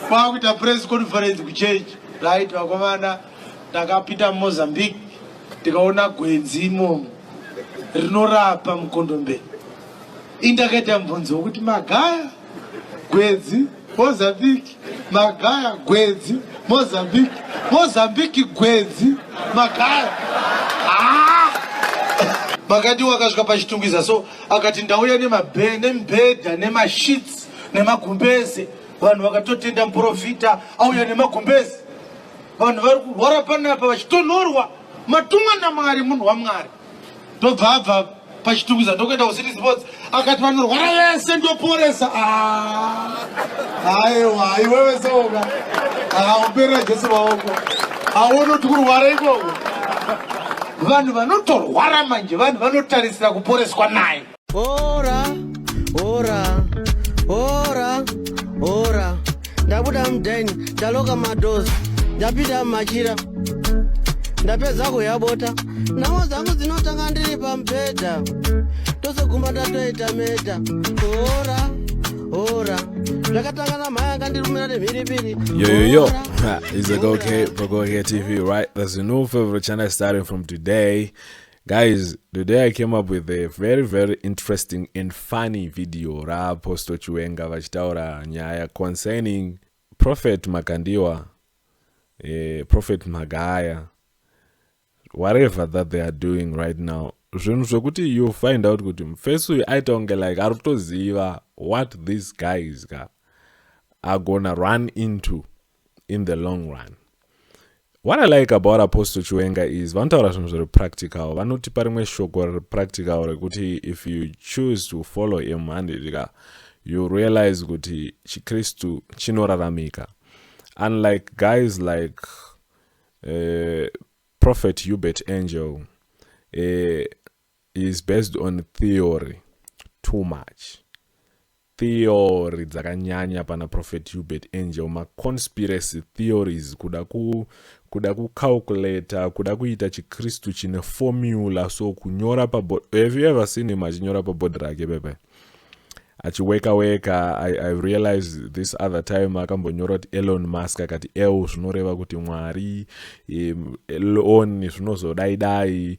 kwakuita press conference kuchechi right vakomana takapinda mumozambique tikaona gwenzi imomo rinorapa mukondombe indakaita mubvunzo wekuti magaya gwenzi mozambique magaya gwenzi mozambique mozambique gwenzi magaya ah! makati wakasvika pachitungwiza so akati ndauya nemibhedha nemashits nemagumbeze vanhu vakatotenda muprofita auya nemagumbezi vanhu vari kurwara panapa vachitonhorwa matumwa namwari munhu wamwari ndobva abva pachitungwiza ndokuenda kucity sports akati vanorwara vese ndoporesa aiwa ah. iwewe seoka auperera ah, jesu vaoko aona kuti kurwara ikoko vanhu vanotorwara manje vanhu vanotarisira kuporeswa naye Ora, ora, ora, ora. Ndabuda mudhaini, ndaloka madozi, ndapinda mumachira, ndapedza kuyabota. Nhamo dzangu dzinotanga ndiri pamubhedha, tose gumba ndatoita meta. Ora, ora, zvakatanga namhaya akandirumira nemhiripiri. Yo, yo, yo. Ora, Ha, It's like, ora. okay, Pagoria TV, right? That's the new favorite channel starting from today. Guys, today I came up with a very very interesting and funny video raApostle Chiwenga vachitaura nyaya concerning Prophet Makandiwa, eh, Prophet Magaya, whatever that they are doing right now. Zvinhu zvekuti you find out kuti mufesi uyu aita kunge like ari kutoziva what these guys ka agona run into in the long run what i like about apostle chiwenga is vanotaura zvinhu zviri practical vanotipa rimwe shoko riri practical rekuti if you choose to follow him handidika you realize kuti chikristu chinoraramika unlike guys like uh, prophet hubert angel uh, is based on theory too much theory dzakanyanya pana prophet hubert angel maconspiracy theories kuda ku kuda kucalculator kuda kuita chikristu chine formula so kunyora pabod have you ever seen him achinyora pabodhi rake pepe achiweka weka I, i realize this other time akambonyora kuti elon musk akati el zvinoreva kuti mwari elon zvinozodaidai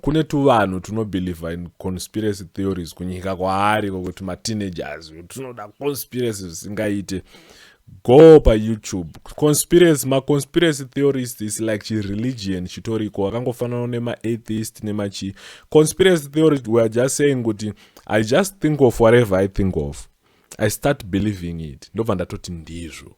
kune tuvanhu tunobelieve in conspiracy theories kunyika kwaari ko kuti mateenagers tunoda conspiracy zvisingaite go payoutube conspiracy maconspiracy theorist is like chireligion chitoriko wakangofanana nemaatheist nemachi conspiracy theory weare just saying kuti i just think of whatever i think of i start believing it ndobva ndatoti ndizvo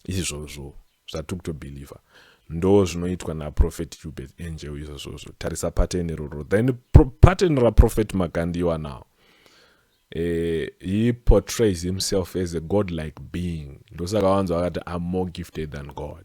izvozvo zvatikutobhilivha ndo zvinoitwa naprofet hubert angel izvozvozvo tarisa pattern iroro then pro, pattern raprofet makandiwa now eh, he portrays himself as a god like being ndosaka wanzi wakati am more gifted than god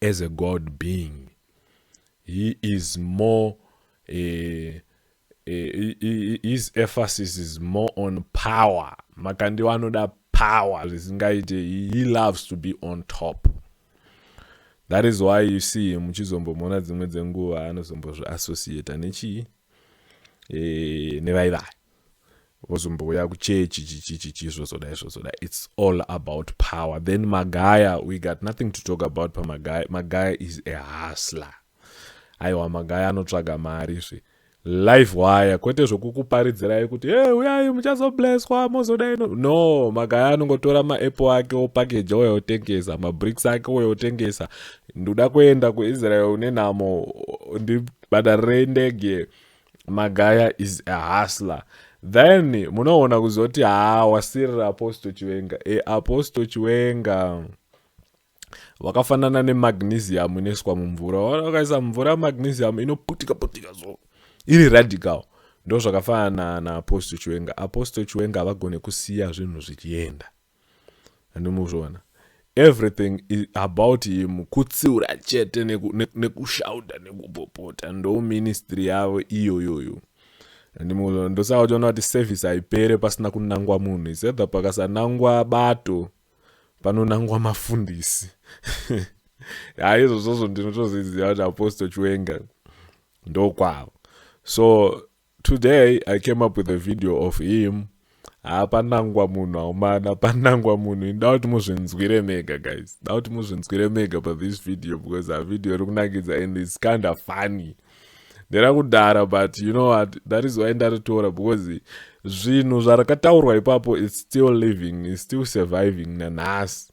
as a God being. He is more, uh, uh, his emphasis is more on power. Makandi vanoda power zvisingaite. He loves to be on top. That is why you see him muchizombomona dzimwe dzenguva anozombozviassociata nechii e, nevaivai vozombouya kuchechi chichichichi zvozodai zvozodai its all about power then magaya we got nothing to talk about pamagaya magaya is a hustler aiwa magaya anotsvaga mari zve live wire kwete zvokukuparidzirai kuti e hey, uyai muchazobleswa mozodai no no magaya anongotora maapple ake opakeja ouya otengesa mabricks ake ouya otengesa ndoda kuenda kuisrael une nhamo Badare rendege Magaya is a hustler. Then munoona kuzoti haa wasirira Apostle Chiwenga. E Apostle Chiwenga wakafanana nemagnesium inoiswa mumvura. Waona ukaisa mvura magnesium inoputika putika so. Iri radical. Ndozvakafanana na Apostle Chiwenga. Apostle Chiwenga havagone kusiya zvinhu zvichienda. and muzviona everything about him kutsiura chete nekushauta neku, neku nekupopota ndo ministry yavo iyoyoyo and muzviona ndosaka uchiona kuti service haipere pasina kunangwa munhu is either pakasanangwa bato panonangwa mafundisi haizvozvozvo ndinotozviziva kuti apostle chiwenga ndokwavo so Today I came up with a video of him haa panangwa munhu haumana panangwa munhu ini dauti muzvinzwire mega guys dauti muzvinzwire mega pa this video because a video iri kunakidza and its kind of funny ndera kudara but you know what that is why ndaritora because zvinhu zvarakataurwa ipapo its still living its still surviving nanhasi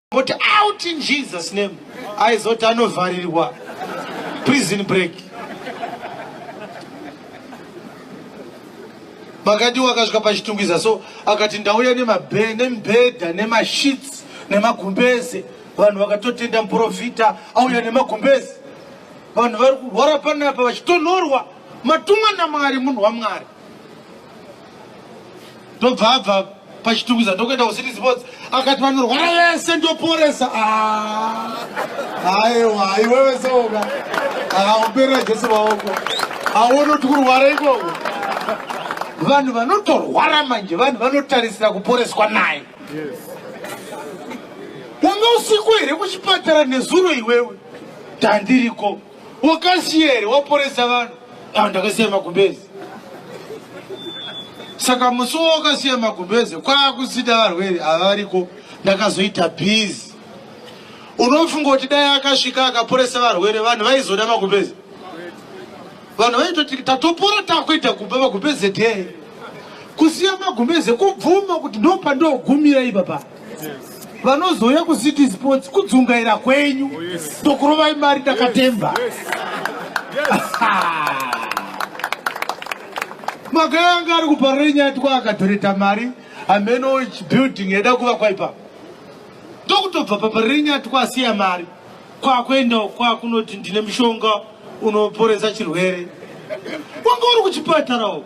But out in Jesus name aizoti anovharirwa prison break makadiwo akasvika pachitungwiza so akati ndauya nemibhedha nemashits nemagumbeze vanhu vakatotenda muprofita auya nemagumbeze vanhu vari kurwara panapa vachitonhorwa matumwa namwari munhu wamwari ndobva abva pachitungwiza ndokuenda kucity sports akati vanorwara vese ndoporesa aiwa ah. iwewe seoka akakuperera jesu maoko aone kuti kurwara ikoko vanhu vanotorwara manje vanhu vanotarisira kuporeswa naye wanga usiku here kuchipatara nezuro iwewe tandiriko Wakasiya here waporesa vanhu? Ah, ndakasiya magumbezi. Saka musi wakasiya magumbezi kwakusida varwere havariko ndakazoita busy. Unofunga kuti dai akasvika akaporesa varwere vanhu vaizoda magumbezi? Vanhu vaitoti tatopora takuita kumba magumbezi tee. Kusiya magumbezi kubvuma kuti ndopandogumira ipapa. vanozouya kucity sports kudzungaira kwenyu tokurovai oh, mari ndakatemba magaya anga ari kuparira nyaya tikwa akadhoreta mari hameno building yaida kuva kwaipa ndokutobva paparira nyaya tikwa asiya mari kwakuenda kwakunoti ndine mushonga unoporesa chirwere wanga uri kuchipatara uko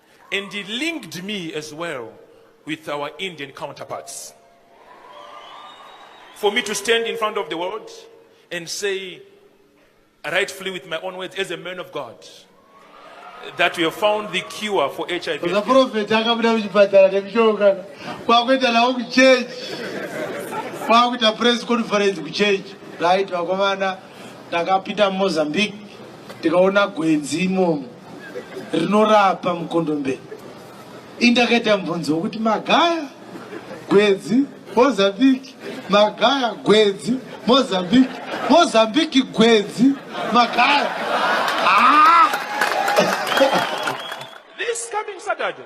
And he linked me as well with our Indian counterparts. For me to stand in front of the world and say, rightfully with my own words, as a man of God, that we have found the cure for HIV. The prophet akabuda kuchipatara nekuchoka kwakuita nawo kuchurch kwakuita press conference kuchurch right vakomana takapinda mumozambique tikaona gwenzi imomo rinorapa mukondombe indakaita mubvunzo wekuti magaya gwedzi mozambique magaya gwedzi mozambique mozambique gwedzi magaya ah! this coming saturday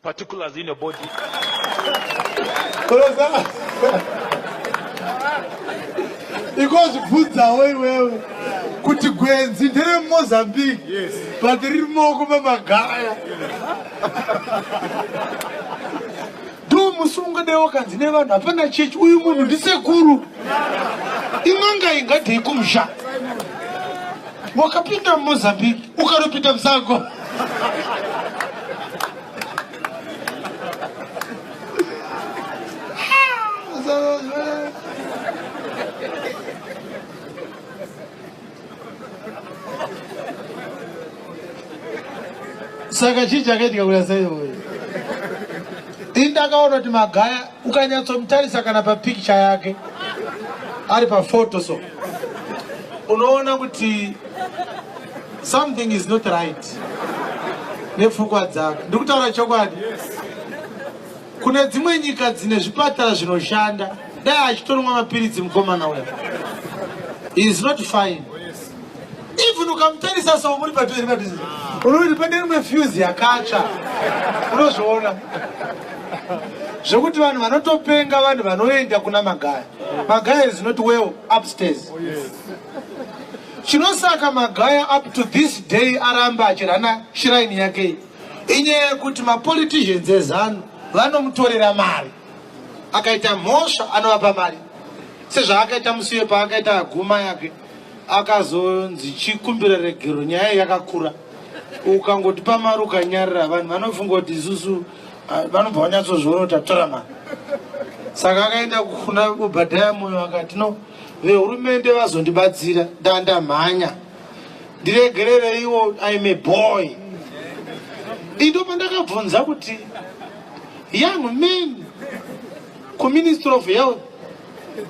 Particulars in your body. ikozvibvunzawo iwewe kuti gwenzi ndere mumozambique but riri moko mamagaya do musi ungadewo kanzi nevanhu hapana chechi uyu munhu ndisekuru in'anga ingadei kumusha wakapinda mumozambique ukanopinda musango saka chii chakaitika kuya saioi ini ndakaona kuti magaya Ukanyatsomutarisa kana papikicha yake ari pafoto so unoona kuti something is not right nepfukwa dzake. Ndiri kutaura chokwadi. Kune dzimwe nyika dzine zvipatara zvinoshanda dai achitonwa mapiritsi mukomana uya. He is not fine. even ukamutarisa so muri padhuze padhuze unoti pane rimwe fuse yakatsva unozviona zvekuti vanhu vanotopenga vanhu vanoenda kuna magaya magaya is not well upstairs oh, chinosaka magaya up to this day aramba achirana shiraini yake inyaya yekuti mapoliticians ezanu vanomutorera mari akaita mhosva anovapa mari sezvaakaita musiwe paakaita guma yake akazonzi chikumbira regero nyaya yakakura ukangoti pamari ukanyarira vanhu vanofunga kuti isusu ah, vanobva vanyatsozviona kuti atora mari saka akaenda kuna obhadhaya moyo akati no vehurumende vazondibatsira ndandamhanya ndiregerereiwo im a boy indo pandakabvunza kuti young man kuministry of health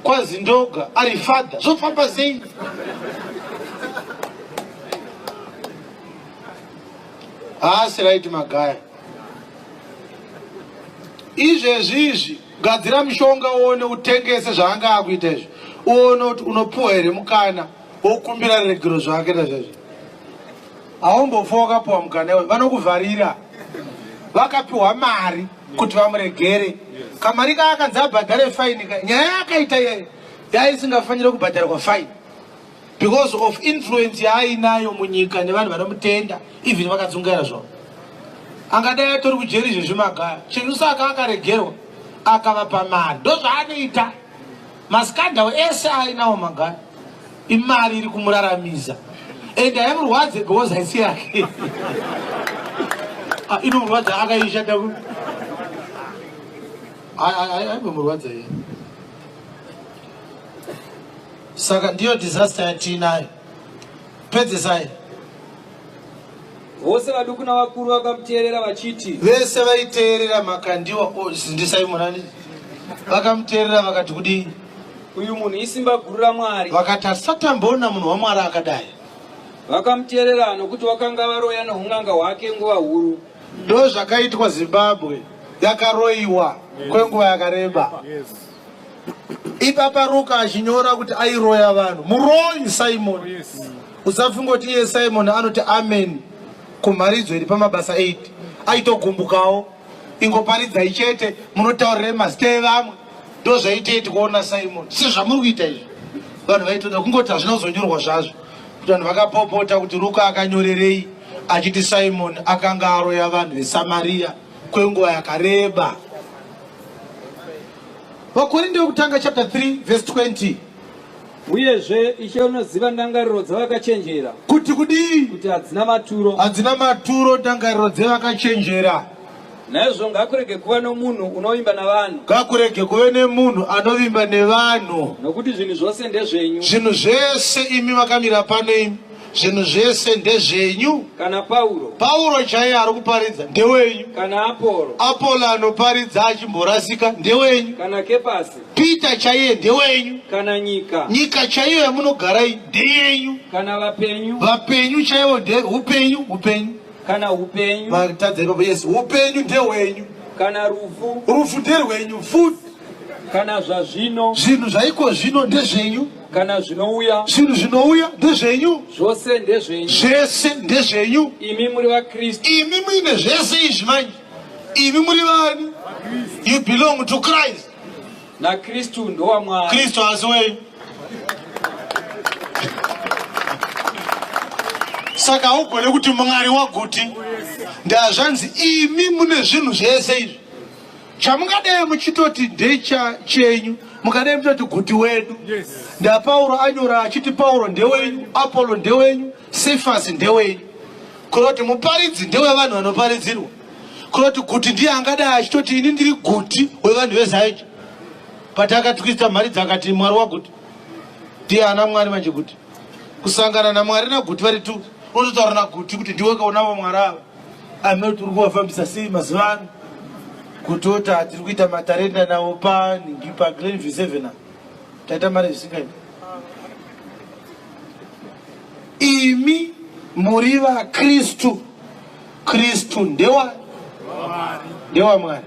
kwazi ndoga ari father zvofamba sei haasi right magaya izvezvi izvi gadzira mushonga uone utengese zvaanga akuita izvi uone kuti unopiwa here mukana wokumbira regero zvake ta zvezvi haumbofa wakapiwa mukana iwe vanokuvharira vakapiwa mari kuti vamuregere kamari kaakanzi abhadhare faini nyaya yaakaita iyeyo yaisingafanire kubhadharwa faini because of influence yaainayo munyika nevanhu vanomutenda even vakadzungaira zvavo angadai atori kujeri izvezvi magaya chinhu saka akaregerwa akavapa mari ndozvaanoita Maskandal ese ainawo magana imari iri kumuraramisa and haimurwadze because haisi yake ah, inomurwadza akaishata ku aigomurwadza iye saka ndiyo disaster yatiinayo pedzesai vose vaduku navakuru vakamuteerera vachiti vese vaiteerera makandiwa zindisai murani vakamuteerera vakati kudii uyu munhu isimba guru ramwari vakati asatamboona munhu wamwari akadai vakamuteerera nokuti vakanga varoya noun'anga hwake nguva huru ndo zvakaitwa zimbabwe yakaroiwa kwenguva yakareba yes. ipapa ruka achinyora kuti airoya vanhu muroyi simon usafungoti iye simon anoti amen kumharidzo iri pamabasa 8 aitogumbukawo ingoparidzai chete munotaurire mazita evamwe ndozvaitei tikuona simon si zvamuri kuita izvi vanhu vaitoda kungoti hazvina kuzonyorwa zvazvo kuti vanhu vakapopota kuti ruka akanyorerei achiti simon akanga aroya vanhu vesamariya kwenguva yakareba Vakorinde wekutanga chapter 3 verse 20. Uyezve ishe unoziva ndangariro dzavakachenjera Kuti kudii? kuti hadzina maturo. Hadzina maturo ndangariro dzevakachenjera. Naizvo ngakurege kuva nomunhu unovimba navanhu, Ngakurege kuve nemunhu anovimba nevanhu. nokuti zvinhu zvose ndezvenyu. Zvinhu zvese imi vakamira pano imi zvinhu zvese ndezvenyu kana pauro pauro chaiye ari kuparidza ndewenyu kana apolo apolo anoparidza achimborasika ndewenyu kana kepasi pita chaiye ndewenyu kana nyika nyika chaiyo yamunogarai ndeyenyu kana vapenyu vapenyu chaivo ndeupenyu upenyu kana upenyu vatadza ipapo yes upenyu ndehwenyu kana rufu rufu nderwenyu futi kana zvazvino zvinhu zvaiko zvino ndezvenyu kana zvinouya zvinhu zvinouya ndezvenyu zvose ndezvenyu zvese ndezvenyu imi muri vakristu imi muine zvese izvi manje imi muri vani you belong to christ nakristu ndowamwari kristu asi wenyu saka haugone kuti mwari waguti ndazvanzi imi mune zvinhu zvese izvi chamungadei muchitoti ndecha chenyu mukadei muchitoti guti wedu yes. ndapauro anyora achiti pauro ndewenyu apollo ndewenyu sefasi ndewenyu kunoti muparidzi ndewevanhu vanoparidzirwa kunoti guti ndiye angadai achitoti ini ndiri guti wevanhu vezaeja but akatwisa mhari dzakati mwari waguti ndiye ana mwari manje kuti kusangana namwari naguti vari tu unototaura naguti kuti ndiwe kaunavo mwari ava amene kuti uri kuvafambisa sei mazuva ano kutota tiri kuita matarenda nawo paningi paglen v seven a taita mari zvisingaiti imi muri vakristu kristu ndewa ndewa mwari